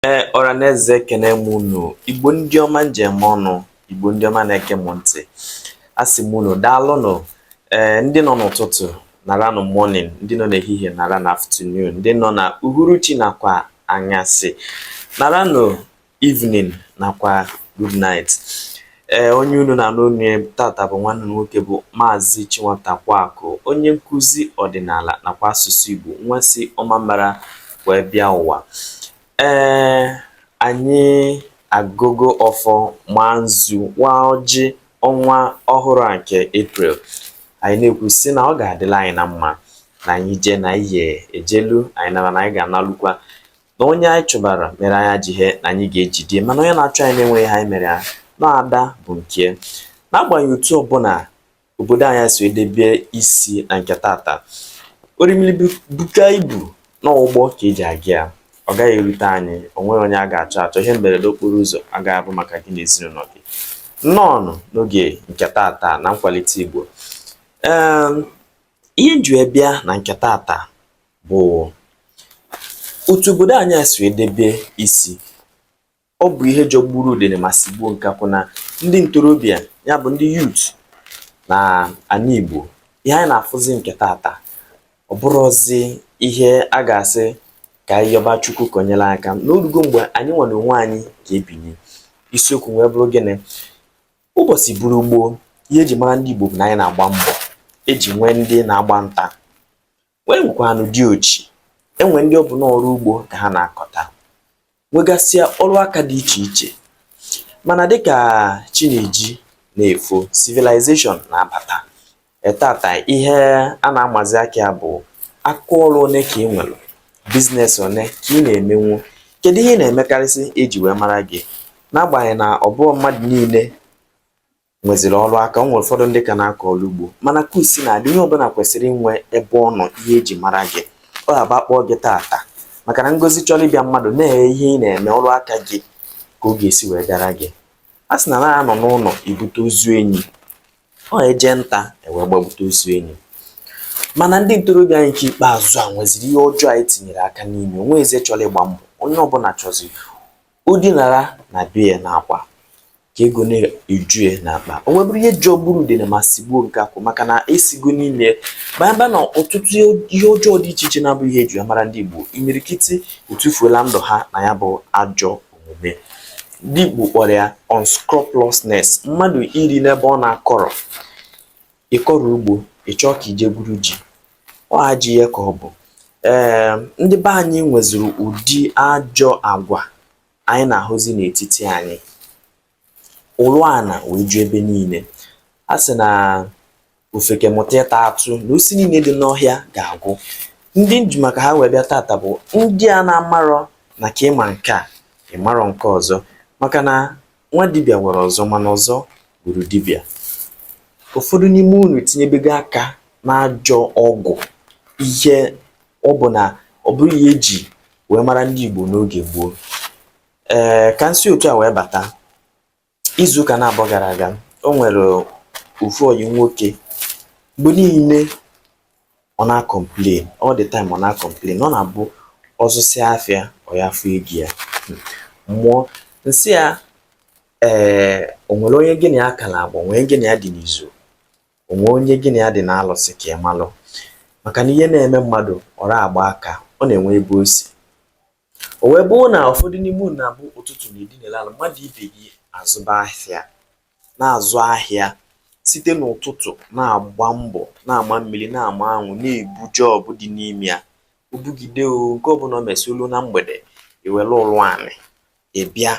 ee ọra na eze ekene m unu igbo ndị ọma m ji eme ọnụ igbo ndị ọma na-ege m ntị asị m unu daalụnụ ee eh, ndị nọ n'ụtụtụ nara nụ morning ndị nọ n'ehihie nara nụ afternoon ndị nọ na uhuruchi nakwa anyasị nara nụ evening nakwa good night Ee, onye unu na-anụ olu ya tata bụ nwanne unu nwoke bụ Maazị Ichie Nwatakwaakụ, onye nkụzi ọdịnala nakwa asụsụ Igbo, nwa si Ọmambara wee bịa ụwa. Ee, anyị agọgo ọfọ maa nzu waa ọjị ọnwa ọhụrụ a nke April. Anyị na-ekwu sị na ọ ga-adịlị anyị na mma na anyị jee na anyị ejelu anyị nara na anyị ga-analukwa na onye anyị chụbara mere anyị ajọ ihe na anyị ga-ejide ya mana onye na-achụ anyị na-enweghị ihe anyị mere ya na ada bụ nke n'agbanyeghị otu ọbụla obodo anyị si edebe isi na nke tata orimiri buka ibu na ụgbọ ka eji aga ya ọ gaghị erute anyị o nweghị onye a ga-achọ achọ ihe mberede okporo ụzọ agaghị abụ maka gị na ezinụlọ gị nnọọ n'oge nke tata na nkwalite Igbo ee ihe m ji wee bịa na nke tata bụ otu obodo anyị a si edebe isi ọ bụ ihe jọgburu udene ma sigbuo nkakwụ na ndị ntorobịa ya bụ ndị youth na ala Igbo ihe anyị na-afụzi nke tata ọ bụrụzi ihe a ga-asị ka anyị yọba Chukwu ka o nyere anyị aka na o rugo mgbe anyị nwa n'onwe anyị ga-ebinye isiokwu wee bụrụ gịnị ụbọchị bụrụ gboo ihe eji mara ndị Igbo bụ na anyị na-agba mbọ eji nwee ndị na-agba nta wee nwekwanụ di ochi e nwee ndị ọ bụ n'ọrụ ugbo ka ha na-akọta nwegasịa ọrụ aka dị iche iche mana dịka chi na-eji na-efo civilization na-abata ee tata ihe a na-amazi aka ya bụ aka ọrụ one ka ị nwere business one ka ị na-emenwu kedu ihe ị na-emekarịsị eji wee mara gị n'agbanyeghị na ọ bụghị mmadụ niile nweziri ọrụ aka o nwere ụfọdụ ndị ka na-akọ ọrụ ugbo mana ka o si na-adị onye ọbụla kwesịrị inwe ebe ọ nọ ihe eji mara gị ọ ga-agba kpọọ gị tata maka na ngozi chọrọ ịbịa mmadụ na-enye ihe ị na-eme ọrụ aka gị ka ọ ga-esi wee gara gị a sị na anaghị anọ n'ụlọ ebute ozu enyi ọ e jee nta e wee gbagbute ozu enyi mana ndị ntorobịa anyị nke ikpeazụ a nweziri ihe ọjọọ anyị tinyere aka n'ime o nwezighị onye chọrọ ịgba mbọ onye ọbụla chọzi O dinara na be ya n'akwa ka ego na-eju ya n'akpa. O wee bụrụ ihe jọgburu udene ma sigbuo nkakwụ maka na e sigo n'ime ya baa na ọtụtụ ihe ọjọọ dị iche iche na-abụ ihe eji mara ndị Igbo. Imirikiti etufuola ndụ ha na ya bụ ajọ omume. Ndị oyibo kpọrọ ya unscrupulousness, mmadụ iri n'ebe ọ na-akọrọ. ị kọrọ ugbo ị chọọ ka ị jee gwuru ji ọ ajọ ihe ka ọ bụ ee ndị be anyị nweziri ụdị ajọ agwa anyị na-ahụzi n'etiti anyị ụlụ ana wee ju ebe niile a sị na ofeke mụta ịta atụ na osisi niile dị n'ọhịa ga-agwụ ndị m ji maka ha wee bịa tata bụ ndị a na-amarọ na ka ị ma nke a ị marọ nke ọzọ maka na nwa dibịa gwọrọ ọzọ mana ọzọ gburu dibịa ụfọdụ n'ime unu tinyebego aka n'ajọ ọgwụ ihe ọ bụ na ọ bụrọ ihe e ji wee mara ndị Igbo n'oge gboo ee ka m si otu a wee bata izu ụka naabọ gara aga o nwere ofu ọyị m nwoke mgbe niile ọ na-acomplain all the time ọ na-acomplain ọ na-abụ ọ zụsịa afịa ọ ya afụ ego ya mmụọ m sị ya ee o nwere onye gị na ya ka na-agba o nwee onye gị na ya dị n'izu o nwee onye gị na ya dị n'alụsị ka ị malụ maka na ihe na-eme mmadụ ọ ra agba aka ọ na-enwe ebe o si O wee bụrụ na ụfọdụ n'ime unu na-abụ ụtụtụ na edinela ala mmadụ ibe gị azụba ahịa na-azụ ahịa site n'ụtụtụ na-agba mbọ na-ama mmiri na-ama anwụ na-ebu job dị n'ime ya o bugide o nke ọbụla o mesị o luo na mgbede i were ụlụ anị bịa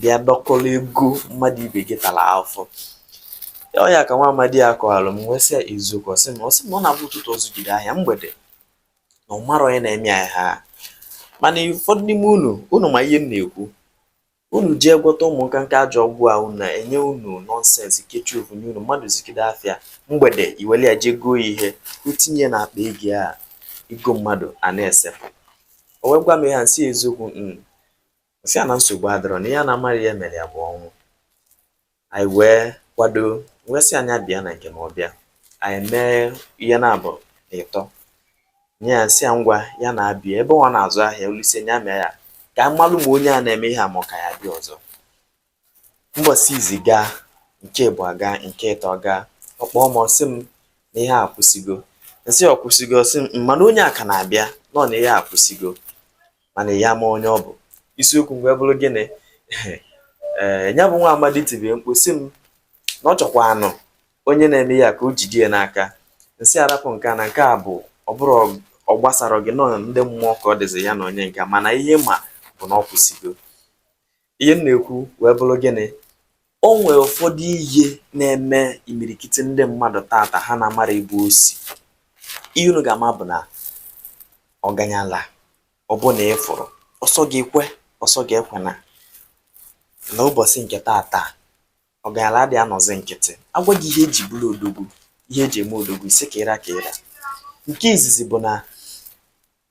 bịa dọkọrọ ego mmadụ ibe gị tara afụfụ ọ ya ka nwa amadị a kọwalụ m wee sị ya eziokwu ọ sị m ọ sị m na ọ na-abụ ụtụtụ ọ zụgide ahịa mgbede na ọ marọ onye na-eme ya ihe a mana ụfọdụ n'ime unu unu ma ihe m na-ekwu unu jee gwọta ụmụ nkanka ajọ ọgwụ a unu na-enye unu nonsense kechie ofu nye unu mmadụ zụgide afịa mgbede i were ya jee goo ihe i tinye n'akpa ego ya ego mmadụ a na-esepụ o wee gwa m ihe a m sị eziokwu mm, M sị ya na nsogbu adịrọ na ihe a na-amaghị ihe mere ya bụ ọnwụ. Anyị wee kwado m wee sị ya nya bịa na nke m ọ bịa anyị mee ihe naabọ na ịtọ nye ya sị ya ngwa ya na-abịa ebe ọ na-azụ ahịa olise ya mee ya ka m malụ ma onye a na-eme ihe a ma ọ ka ya bịa ọzọ mbọsị izizi gaa nke ịbụa agaa nke ịtọ agaa ọ kpọọ m ọ sị m na ihe a akwụsịgo m sị ọ kwụsịgo ọ sị m mana onye a ka na-abịa nọ na ihe a akwụsịgo mana ya ma onye ọ bụ isiokwu m wee bụrụ gịnị ee ya bụ nwa amadị tibe mkpu sị m na ọ chọkwanụ onye na-eme ya ka o jide ya n'aka m sị ya rapụ nke a na nke a bụ ọ bụrụ ọ gbasara gị nọ ndị mmụọ ka ọ dịzi ya na onye nke mana ihe m ma bụ na ọ kwụsịgo Ihe m na-ekwu wee bụrụ gịnị? O nwere ụfọdụ ihe na-eme imirikiti ndị mmadụ tata ha na-amara ebe o si. Ihe unu ga-ama bụ na ọganyala ọbụna ị fụrụ, ọ sọ gị kwe, ọ sọ gị ekwena na ụbọchị nke tata ọganyala adịghị anọzi nkịtị. A gwa gị ihe e ji bụrụ odogwu, ihe e ji eme odogwu, isi ka ịra ka ịra. Nke izizi bụ na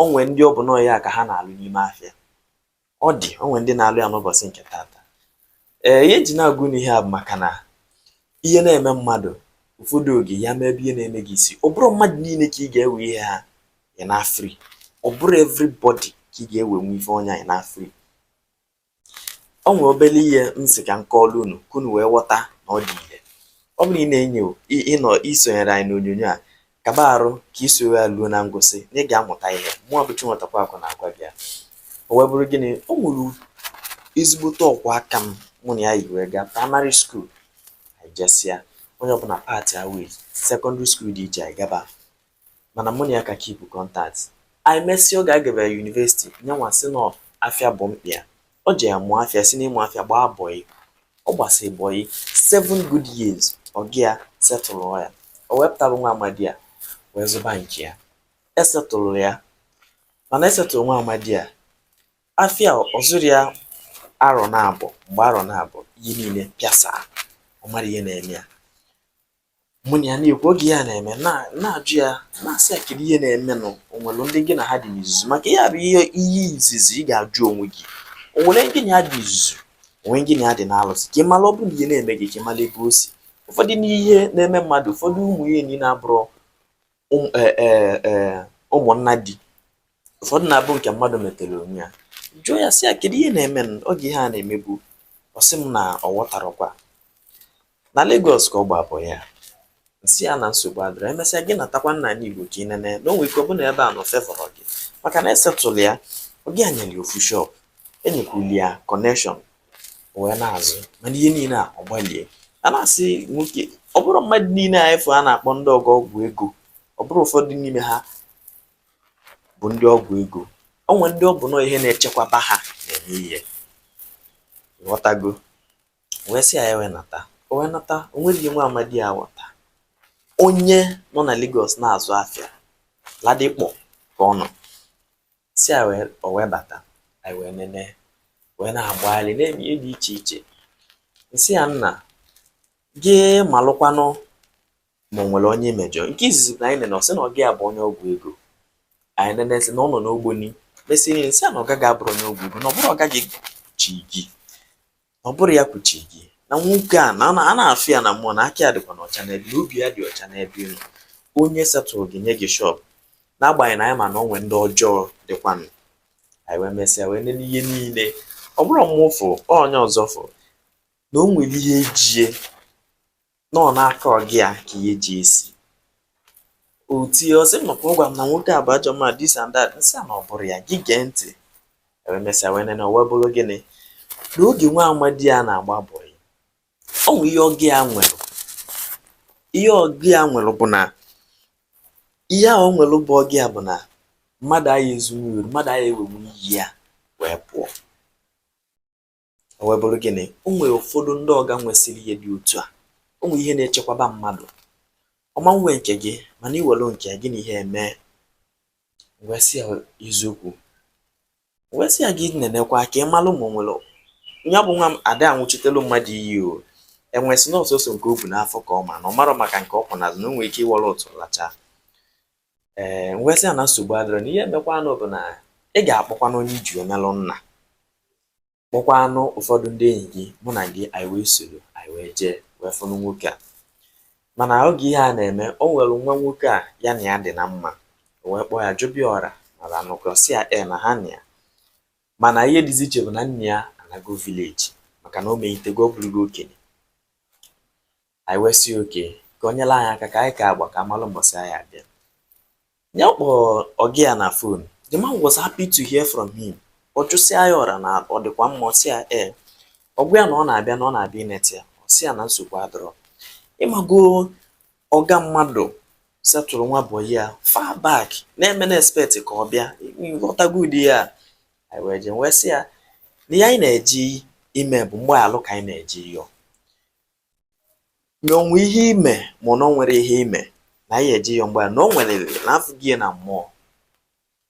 o nwee ndị ọ bụ nọọ aya ka ha na-alụ n'ime afịa ọ dị o nwee ndị na-alụ ya n'ụbọchị nke tata ee ihe m ji na-agwa unu ihe a bụ maka na ihe na-eme mmadụ ụfọdụ oge ya mee ebe ihe na-eme gị si ọ bụrụ mmadụ niile ka ị ga-ewe ihe ha ị na-afri ọ bụrụ everybody ka ị ga-ewe nwe ife onye anyị na-afri o nwere obere ihe m sị ka m kọọrọ unu ka unu wee ghọta na ọ dị ire ọ bụrụ ị na-enyo ịnọ i sonyere anyị n'onyonyo a kaba arụ ka i soro ya ruo na ngwụsị na ị ga-amụta ihe mụwa bụ Chinwetakwa Akụ na-agwa gị ya o wee bụrụ gịnị o nwere ezigbote ọkwụ aka m mụ na ya yi wee gaa primary school anyị jesịa onye ọbụla part way secondary school dị iche anyị gaba mana mụ na ya ka keep contact anyị mesịa oge a gabara university nyanwa sị na afịa bụ mkpa ya o jee mụọ afịa si n'ịmụ afịa gbaa bọyị ọ gbasịrị bọyị seven good years ọga ya setụlụ ya o wee pụta nwa amadi a wee zụba nke ya e setụlụ ya mana e setụlụ nwa amadi a afịa ọ zụrụ ya arọ naabọ mgbe arọ naabọ ihe niile pịasa ọ marọ ihe na-eme ya mụ na ya na-ekwu oge ihe a na-eme na-ajụ ya na-asị ya kedu ihe na-emenụ o nwere ndị gị na ha dị n'izuzu maka ya bụ ihe ihe izizi ị ga-ajụ onwe gị o nwere ndị gị na ya dị n'izuzu o nwe ndị gị na ya dị n'alụsị ka ị mara ọ bụrụ na ihe na-eme gị ka ị mara ebe o si ụfọdụ n'ihe na-eme mmadụ ụfọdụ ụmụ ihe niile abụrọ e, e, e, ụmụnna di ụfọdụ na-abụ nke mmadụ metere onwe ya jụọ ya sị ya kedu ihe na-eme m oge ihe a na-emebu ọ sị m na ọ ghọtarọkwa na Lagos ka ọ gba bọyị m sị ya na nsogbu adịrọ emesịa gị natakwa n'anị Igbo ka ị nene na o nwere ike ọ bụrụ na ebe ị nọ afevọrọ gị maka na e setụlụ ya ọga ya nyere ya ofu shop enyekwuli ya connection o wee na-azụ mana ihe niile a ọ gbalie ya na-asị nwoke ọ bụrọ mmadụ niile a ị fụ a na-akpọ ndị ọgọ ọgwụ ego ọ bụrụ ụfọdụ n'ime ha bụ ndị ọgwụ ego o nwere ndị ọ bụ nọọ ihe na-echekwaba ha na-eme ị ghọtago wee sị ya ya wee nata o wee nata o nwerọ ihe nwa amadi a ghọta onye nọ na Lagos na-azụ afịa Ladipo ka ọ nọ si ya wee o wee bata anyị wee nene wee na-agbagharị na-eme ihe dị iche iche m sị ya nna gị malụkwanụ ma o nwere onye i mejọ nke izizi bụ na anyị nene ọ sị na ọga ya bụ onye ọgwụ ego anyị nene sị na ọ nọ n'Ogboni mesị niile sị na ọga gị abụrọ onye ọgwụ ego na ọ bụrọ ọga gị ji gị ọ bụrọ ya kwuchi gị na nwoke a na a na-afụ ya na mmụọ na aka ya dịkwanụ ọcha n'ebe na obi ya dị ọcha n'ebe ị nọ onye setụrụ gị nye gị shọp n'agbanyeghị na anyị ma na o nwee ndị ọjọọ dịkwanụ anyị wee mesịa wee nene ihe niile ọ bụrụ mụ fụ onye ọzọ fụ na o nwere ihe ji e na ọ n'aka ọga ya ka ihe ji e si o tie ọ sị m na ọ kwa ọ gwara m na nwoke a bụ ajọ mmadụ this and that m sị ya na ọ bụrọ ya gị gee ntị wee mesịa wee nene wee bụrụ gịnị na oge nwa amadi a na-agba bọị o nwe ihe ọga ya nwere ihe ọga ya nwere bụ na ihe a o nwere bụ ọga ya bụ na mmadụ aya ezunwuru mmadụ aya ewenwu ihe ya wee pụọ O wee bụrụ gịnị? O nwere ụfọdụ ndị ọga nwesịrị ihe dị otu a. O nwere ihe na-echekwaba mmadụ. Ọ ma-ewe nke gị mana i welu nke ya gị na ihe eme. M wee sị ya eziokwu. M wee sị ya gị nenekwa ka ị malụ ma o nwere ya bụ nwa m a da aṅụchitelu mmadụ iyi o enwe sị na ọ sọsọ nke o bu n'afọ ka ọ ma na ọ marọ maka nke ọ kwọ n'azụ na o nwere ike ịwọrọ ụtụ lachaa m wee sị ya na nsogbu adịrọ na ihe emekwanụ bụ na ị ga-akpọkwanụ onye i ji emelu nna kpọkwanụ ụfọdụ ndị enyi gị mụ na gị anyị wee soro anyị wee jee wee fụnụ nwoke a mana oge ihe a na-eme o nwere nwa nwoke a ya na ya dị na mma o wee kpọọ ya jụba ya ọra mara anụkọ si ya e na ha na ya mana ihe dịzi iche bụ na nna ya anago village maka na o meghitego ọ bụrụgo okenye Anyị wee sị ya okay ka o nyere anyị aka ka anyị kaa agba ka a malụ mbọsị anyị abịa. Nya kpọrọ ọga ya na phone. The man was happy to hear from him. Ọ jụsịa ya ọra na ọ dịkwa mma, ọ sị ya ee. Ọ gwa ya na ọ na-abịa na ọ na-abịa inete ya, ọ sị ya na nsogbu adịrọ. Ị mago ọga mmadụ setụrụ nwa bọyị ya far back na-eme na-expect ka ọ bịa ị ghọtago ụdị ihe a. Anyị wee jee wee sị ya na ihe anyị na-eje ime bụ mgbaghalụ ka anyị na-eje ịyọ. na o nwe ihe i me ma ọ na o nwerọ ihe i me na anyị eje ịyọ mgbaghalụ na o nwelere na-afụ gị ya na mmụọ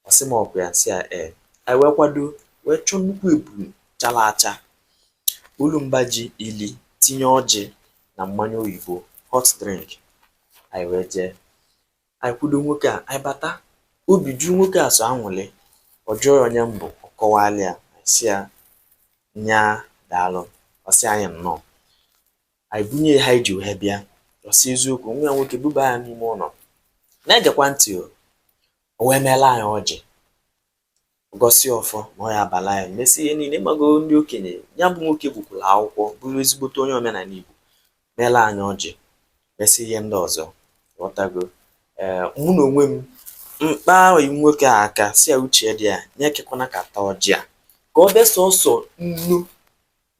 ọ sị m ọ kwa ya m sị ya ee anyị wee kwado wee chọọ nnukwu ebulu chara acha wolu mba ji ili tinye ọjị na mmanya oyibo hot drink anyị wee jee Anyị kwudo nwoke a, anyị bata, obi ju nwoke a sọ aṅụrị. Ọ jụọ ya onye m bụ, ọ kọwaara ya. Anyị sị ya, nya daalụ. Ọ sị anyị nnọọ. Anyị bunye ya ihe a anyị ji wee bịa. Ọ sị eziokwu, nwa ya nwoke buba ya n'ime ụlọ. Na-egekwa ntị o. O wee meela anyị ọjị. Gọsịa ọfọ na ọ ya abala ya mesi ihe niile. Ị mago ndị okenye, ya bụ nwoke gụkwuru akwụkwọ, bụrụ ezigbote onye omenala Igbo, meela anyị ọjị, mesi ihe ndị ọzọ. Ghọtago? Ee, mụ na onwe m kpa bọyị nwoke a aka sị ya uche dị ya, ya ekwekwana ka a ta ọjị a ka o be sọsọ nnu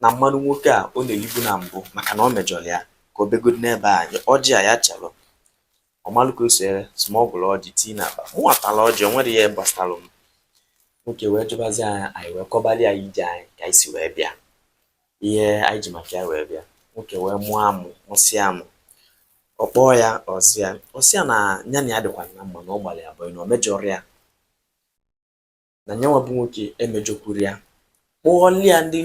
na mmanụ nwoke a ọ na-elibu na mbụ maka na ọ mejọrọ ya ka o begodi n'ebe a ọjị a ya chalụ ọ malụ ka o si wee smuggle ọjị tii n'akpa mụ atala ọjị o nwerọ ihe gbasalụ m nwoke wee jụbazi anyị anyị wee kọbali ya ije anyị ka anyị si wee bịa ihe anyị ji maka ya wee bịa nwoke wee mụọ amụ mụsịa amụ ọ kpọọ ya ọ za ya ọ sị ya na ya na ya dịkwa na mma na ọ gbalụ ya bọyị na ọ mejọrọ ya na nya nwa bụ nwoke emejọkwuru ya kpọọla ya ndị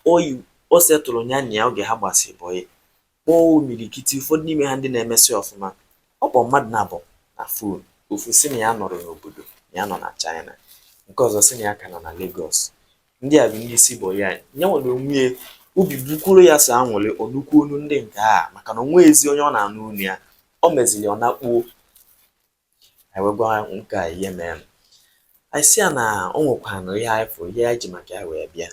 bọyị o setụrụ ya na ya oge ha gbasịrị bọyị kpọọ imirikiti ụfọdụ n'ime ha ndị na-emesị ọfụma ọ kpọ mmadụ naabọ na fon ofu sị na ya nọrọ n'obodo na ya nọ na China nke ọzọ sị na ya ka nọ na Lagos ndị a bụ ndị isi bọyị ya nye nwere onwe obi bụkwuru ya sọ anwụrị ọ nụkwu onu ndị nke a maka na o nwezi onye ọ na-anụ onu ya ọ meziri ọ nakpuo anyị wee gwa nwoke a ihe mere anyị sị ya na o nwekwanụ ihe anyị fụ ihe anyị ji maka ya wee bịa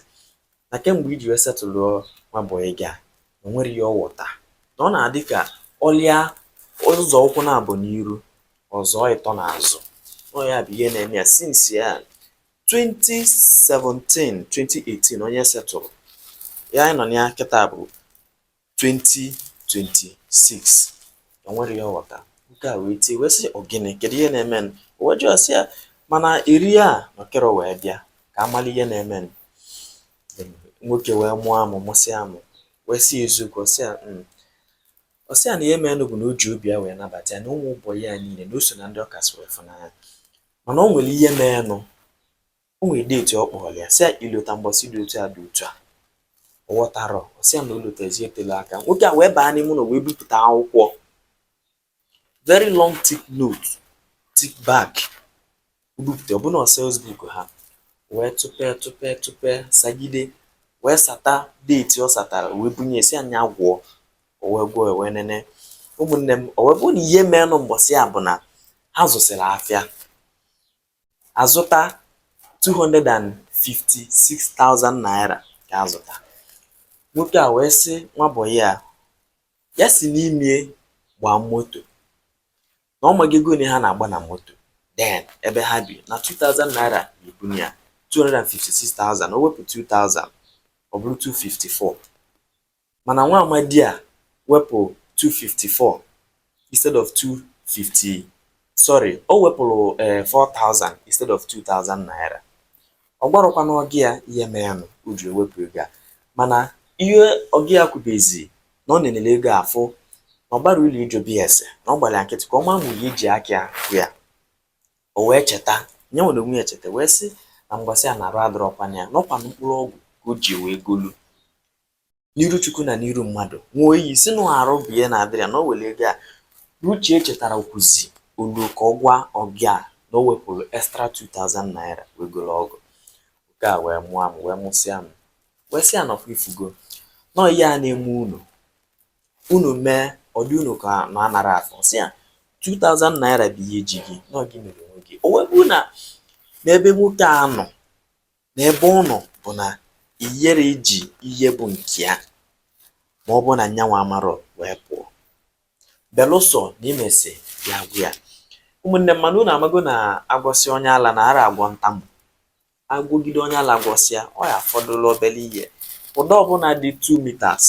na kemgbe i ji wee setụlụọ nwa bọyị gị a na o nwerọ ihe ọ ghọta na ọ na-adị ka ọlịa ọ zọọ ụkwụ naabọ n'iru ọ zọọ ịtọ n'azụ ọ ya bụ ihe na-eme ya since ya 2017 2018 onye setụrụ ya anyị nọ na ya kịta bụ 2026 o nwerọ ihe ọ ghọta nwoke a wee tie wee sị ọ gịnị kedu ihe na-eme o wee jụọ sị ya mana eri a nọkịrị wee bịa ka a mala ihe na-eme nwoke wee mụọ amụ mụsịa amụ wee sị eziokwu ọ sị ya hmm. ọ sị ya na ihe mere bụ na o ji obi ya wee nabata ya na ụmụ bọyị ya niile na o so na ndị ọ kasị wee fụ n'anya mana o nwere ihe meenụ O nwere date ọ kpọrọ ya sị ya i lota mbọsị dị otu a dị otu a ọ ghọtara ọ sị ya na o lotezie tele aka nwoke a wee baa n'ime ụlọ wee bupụta akwụkwọ very long thick note thick back o bupụta ọ bụ na ọ sales book ha wee tụpee tụpee tụpee sagide wee sata date ọ satara wee bunye ya sị ya nya gụọ o wee gụọ ya wee nene ụmụnne m o wee bụrụ na ihe meenụ mbọsị a bụ na ha zụsịrị afịa a zụta 256,000 naira ka a zụta nwoke a wee sị nwa bọyị ya ya si n'ime gbaa moto na ọ maghị ego one ha na-agba na moto then ebe ha bi na 2000 naira ebunye ya 256,000 o wepụ 2000 ọ bụrụ 254 mana nwa amadi a wepụ 254 instead of 250 sorry o wepụrụ 4000 eh, instead of 2000 naira ọ gwarọkwana ọga ya ihe merenụ o ji ewepụ ego a mana ihe ọga ya kwubezi na ọ na-enele ego afụ na ọ gbara ụlọ ijo bs na ọ gbara nkịtị ka ọ ma nwunye iji aka ahụ ya o wee cheta nye nwere onwe ya cheta wee sị na mgbasị a na arụ adịrọkwana ya na ọ kwa mkpụrụ ọgwụ ka o ji wee golu n'iru chukwu na n'iru mmadụ ṅụọ iyi sị na arụ bụ ihe na-adịrọ ya na o were ego a uche echetarọkwuzi olu ka ọ gwa ọga ya na o wepụrụ extra 2000 naira wee goro ọgwụ nke a wee mụọ m wee mụsịa m wee sị ya na ọ kwa ị fụgo na ọ ihe a na-eme unu unu mee ọ dị unu ka na anara afụ sị ya 2000 naira bụ ihe ji gị na ọ gị mere onwe gị o wee bụrụ na n'ebe nwoke a nọ n'ebe ọ nọ bụ na i yere iji ihe bụ nke ya ma ọ bụ na nya nwa amarọ wee pụọ belụsọ na i mesịa bịa gwa ya ụmụnne m mana unu amago na a gwọsịa onye ala na ara agwọ ntamu a gwọgide onye ala gwọsịa ọ ya-afọdụla obere ihe ụdọ ọbụla dị 2 meters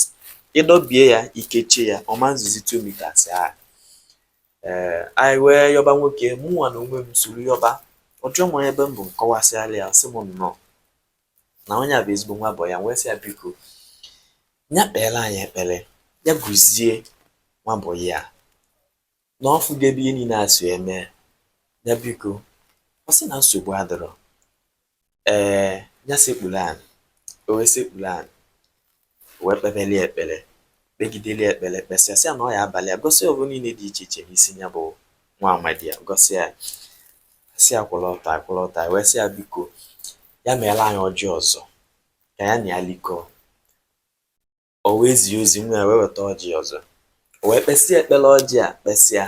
ị dọbie ya i kechie ya ọ ma nzuzi 2 meters ahụ Ee, anyị wee yọba nwoke, mụnwa na onwe m soro yọba. Ọ jụọ m onye ebe m bụ, m kọwasịala ya, ọ sị m nnọọ na onye a bụ ezigbo nwa boy ya, wee sị ya biko, ya kpeela anyị ekpere, ya gọzie nwa boy ya na ọ fụgo ebe ihe niile a si eme, ya biko, ọ sị na nsogbu adịrọ. Ee, ya sekpuru anị, o wee sekpuru anị, o wee kpebeli ekpere, kpegideli ekpere, kpesịa sị ya na ọ ya-abalị ya, gọsịa ọrụ niile dị iche iche n'isi ya bụ nwa amadi a, gọsịa ya, sị ya kwụrụ ọtọ, ọ kwụrụ ọtọ, wee sị ya biko, ya meela anyị ọjị ọzọ, ka ya na ya likọọ. O we zie ozi, nwa ya we weta ọjị ọzọ. O we kpesịa ekpere ọjị a kpesịa.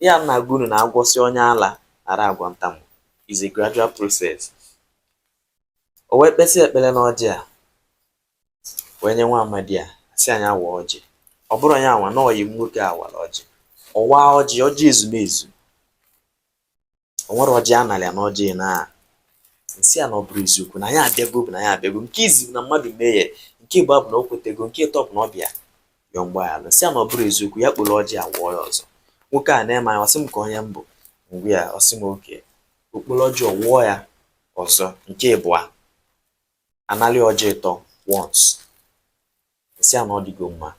Ihe a m na-agwa unu na a gwọsịa onye ala ara agwọ ntamu is a gradual process. O we kpesịa ekpere n'ọjị a wee nye nwa amadi a sị ya nya waa ọjị. Ọ bụrụ ya nwa na ọyị m nwoke a wara ọjị. Ọ waa ọjị, ọjị ezumezu. o nwere ọjị ana li ya na ọjị a m sị ya na ọ bụrụ eziokwu na anyị abịago bụ na anyị abịago nke izizi bụ na mmadụ mehie nke ịbụa bụ na o kwetego nke ịtọ bụ na ọ bịa yọọ mgbaghara m sị ya na ọ bụrụ eziokwu ya kporo ọjị a wụọ ya ọzọ nwoke a na-ene m anya ọ sị m ka onye m bụ m gwa ya ọ sị m okay o kporo ọjị ọ wụọ ya ọzọ nke ịbụa ana lie ọjị ịtọ once a sị ya na ọ dịgo mma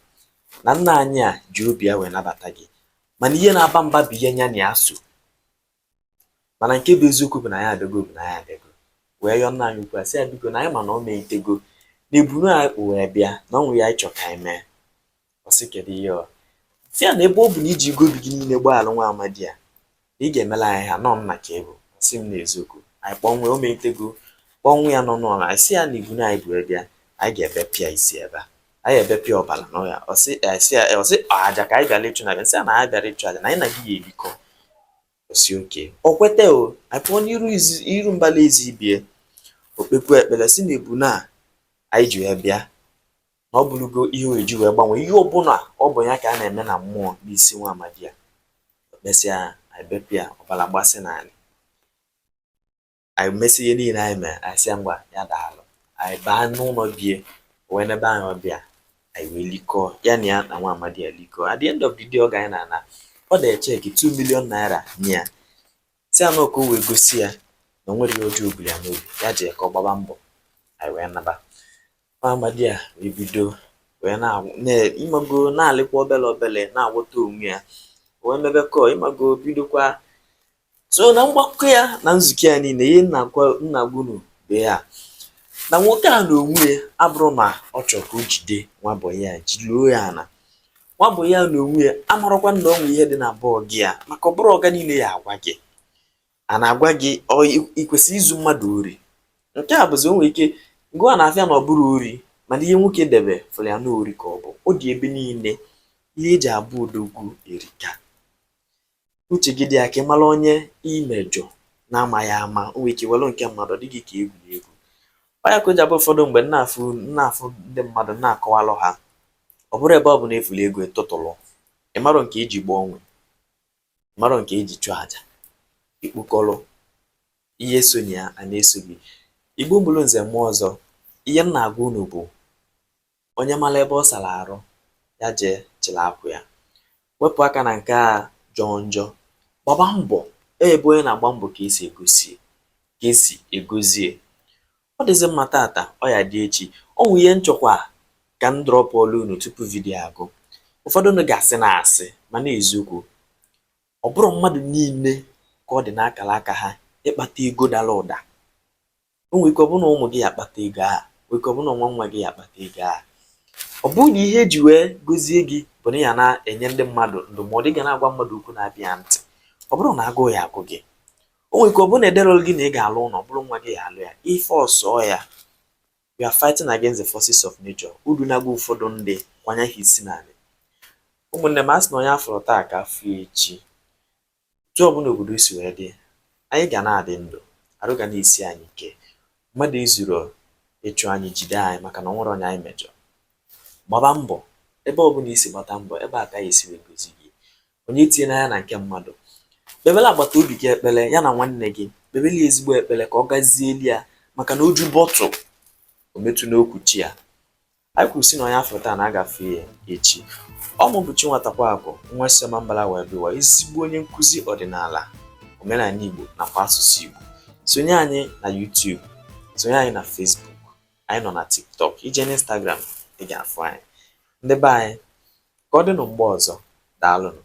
na nna anyị a ji obi ya wee nabata gị mana ihe na-aba mba bụ ihe nya na ya so mana nke bụ eziokwu bụ na anyị abịago bụ na anyị abịago wee yọọ nna anyị ukwu a sị ya biko na anyị ma na o meitego na ebunu anyị kpụ wee bịa na o nwere ihe anyị chọ ka anyị mee ọ sị kedu ihe ọ sị ya na ebe ọ bụ na i jigo obi gị niile gbaalụ nwa amadi a na ị ga-emela anyị ha nọ nna ka ị bụ si m n'eziokwu anyị kpọnwe o meitego kpọnwụ ya nọ n'ụlọ anyị sị ya na ebunu anyị bu bịa anyị ga-ebepịa isi ebe a anyị ebepịa ọbara na ya ọ sị a sị ya ọ sị aja ka anyị bịara ịchụ anyị sị ya na anyị bịara ịchụ aja na anyị na gị ya ebikọ ọ sị okay o kwetago anyị pụọ n'iru iru mbala ezi be ya o kpekwuo ekpere sị na ebunu anyị ji ya bịa na ọ bụrụgo ihe e ji wee gbanwee ihe ọbụla ọ bụ ya ka a na-eme na mmụọ n'isi nwa amadi a kpesịa anyị bepụ ya ọbara mgbasị na anyị anyị mesị ihe niile anyị mere anyị sị ya ngwa ya daalụ anyị baa n'ụlọ be ya wee nebe anyị ọbịa anyị wee likọọ ya na ya na nwa amadi a likọọ at the end of the day oge anyị na-ana o dee cheque 2 million naira nye ya si anụ ọkụ wee gosi ya na o nwerọ ihe ọjọọ o buuru ya n'obi ya ji ka ọ gbaba mbọ anyị wee naba Nwa amadi a ebido wee na-agwụ na- ị mago na-alịkwa obele obele na-agwọta onwe ya wee mebe kọọ ị mago bidokwa so na mgbakọ ya na nzukọ ya niile ihe m na-agwa- m na-agwa unu bụ ya na nwoke a n'onwe ya abụrọ na ọ chọrọ ka o jide nwa bọyị ya jiluo ya ala nwa bọyị ya n'onwe ya amarọkwa na o nwe ihe dị na be ọga ya maka ọ bụrọ ọga niile ya agwa gị a na-agwa gị ọ i kwesịrọ izu mmadụ ori nke a bụzi o nwere ike ngụwa n'afịa na ọ bụrọ ori mana ihe nwoke debe fụrụ ya na ori ka ọ bụ ọ dị ebe niile ihe e ji abụ odogwu erika uche gị dị ya ka ị mara onye i mejọ na-amaghị ama o nwere ike were nke mmadụ ọ dị gị ka egwuregwu ọ ya ka o ji abụ ụfọdụ mgbe m na-afụ na-afụ ndị mmadụ na-akọwalụ ha ọ bụrọ ebe ọbụna ị fụlụ ego ị tụtụlụ ị marọ nke e ji gbaa onwe marọ nke e ji chụọ aja i kpokọrọ ihe so na ya a na-eso gị igbo mụrụ nze mụọ ọzọ ihe m na-agwa unu bụ onye mara ebe ọ sara arụ ya jee chịrị akwa ya wepụ aka na nke a jọọ njọ gbaba mbọ ebe onye na-agba mbọ ka e si egosi ka e si egozie Ọ dịzị mma tata, ọ ya dị echi. O nwe ihe m chọkwa ka m drọpụọlụ unu tupu vidio a gwụ. Ụfọdụ unu ga-asị na asị, mana eziokwu. Ọ bụrọ mmadụ niile ka ọ dị n'akara aka ha ịkpata ego dara ụda. O nwere ike ọ bụrụ na ụmụ gị ya akpata ego a, nwere ike ọ bụrụ na nwa nwa gị ya akpata ego a. Ọ bụrụ na ihe e ji wee gozie gị bụ na ị ya na-enye ndị mmadụ ndụmọdụ, ị ga na-agwa mmadụ okwu na-aba ya ntị. Ọ bụrọ na agụụ ya-agụ gị, o nwere ike ọ bụrụ na ederọlụ gị na ị ga-alụ ụlọ bụrụ nwa gị ya-alụ ya ife ọsọ ya you are fighting against the forces of nature udu na-agwa ụfọdụ ndị kwanye ha isi n'ala ụmụnne m asị na onye a fụrụ taa ka a fụ echi otu ọbụla obodo si wee dị anyị ga na-adị ndụ arụ ga na-esi anyị ike mmadụ izuru ịchụ anyị jide anyị maka na o nwere onye anyị mejọ gbaba mbọ ebe ọbụla i si gbata mbọ ebe a ka a ya-esi wee gọzie gị onye etinyela anya na nke mmadụ kpebere agbata obi gị ekpere ya na nwanne gị kpebere ya ezigbo ekpere ka ọ gazieli ya maka na oju bọtụ o metụ n'okwuchi ya anyị kwuru sị na onye a fụ taa na a ga-afụ ya echi ọ mụ bụ Chinwatakwa Akụ nwa Isioma Mbala wee bụkwa ezigbo onye nkụzi ọdịnala omenala Igbo nakwa asụsụ Igbo sonye anyị na YouTube sonye anyị na Facebook anyị nọ na tiktok i je n'instagram ị ga-afụ anyị ndị be anyị ka ọ dịnụ mgbe ọzọ daalụnụ